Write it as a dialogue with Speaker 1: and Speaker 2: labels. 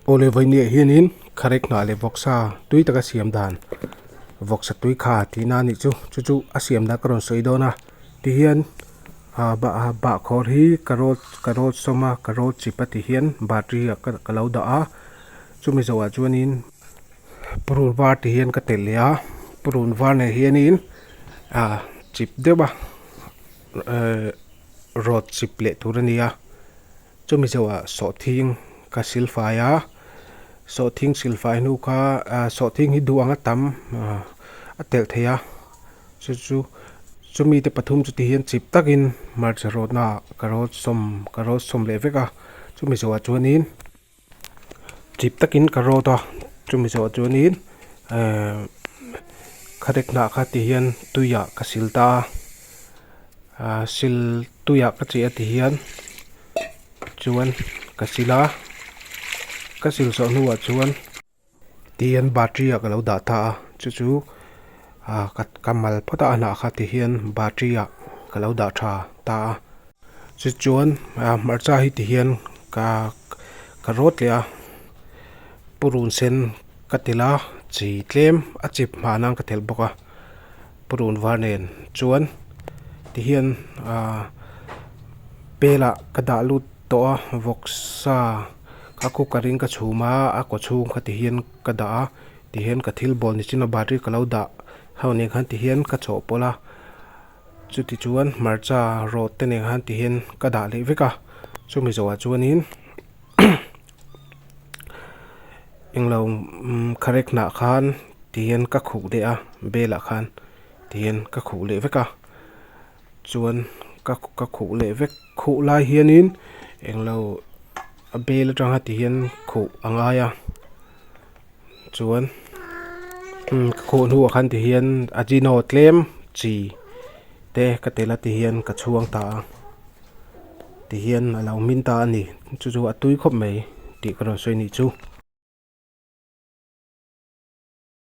Speaker 1: Awle vawinia hianin kharek hnah leh vawksa tui taka siam dan vawksa tui kha tihna a nih chu chu chu a siam dan ka rawn sawi dawn a tihian ah bah ah bahkhawr hi ka rawn ka rawn sawm a ka rawn chip a tihian battery ah ka lo dah a chumi zawhah chuanin purun var te hian ka telh leh a purun var leh hianin ah chip deuh a. rod chip leh tur a ni a chu mizo ah sawhthing ka sil fai a sawhthing sil fai hnu kha ah sawhthing hi duh ang a tam ah a telh thei a chu chu chu mite pathum chu tihian chip tak in hmarcha rawtna ah ka rawt sawm ka rawt sawm leh vek a chu mizo ah chuan in-- chip takin ka rawt a chumi zawh chuanin kha dek hnah kha ti hian tuiah ka sil ta a sil tuiah ka cheh a ti hian chuan ka sil a ka sil saw hnûah chuan-- Tihian battery ah ka lo dah ta a, chu chu ah ka ka mal phawt a, a hnah kha tihian battery ah ka lo dah tha ta a, chu chuan ah hmarcha hi tihian ka ka rawt leh a, purun sen ka telh a, chi tlem a chip hmah nan ka telh bawk a. Purun var nen chuan ti hian aaa pelah ka dah lut tawh a vawk sa a cooker in ka chhum a a kaw chhung kha ti hian ka dah a ti hian ka thil bawl ni chin a battery ka lo dah ho nen khan ti hian ka chhawh pawlh a chuti chuan hmarcha rawt te nen khan ti hian ka dah leh vek a chumi zawhah chuan in-- englo correct hnah khan ti hian ka khuh leh a belah khan ti hian ka khuh leh vek a chuan ka ka khuh leh vek khuh lai hianin englo a bel aṭanga ti hian khuh a ngai a. chuan ka khuh hnu ah khan ti hian ajino tlem chi te ka tel a ti hian ka chhuang ta a ti hian a lo hmin ta a ni chu chu a tui khawp mai tih ka rawn sawi a nih chu.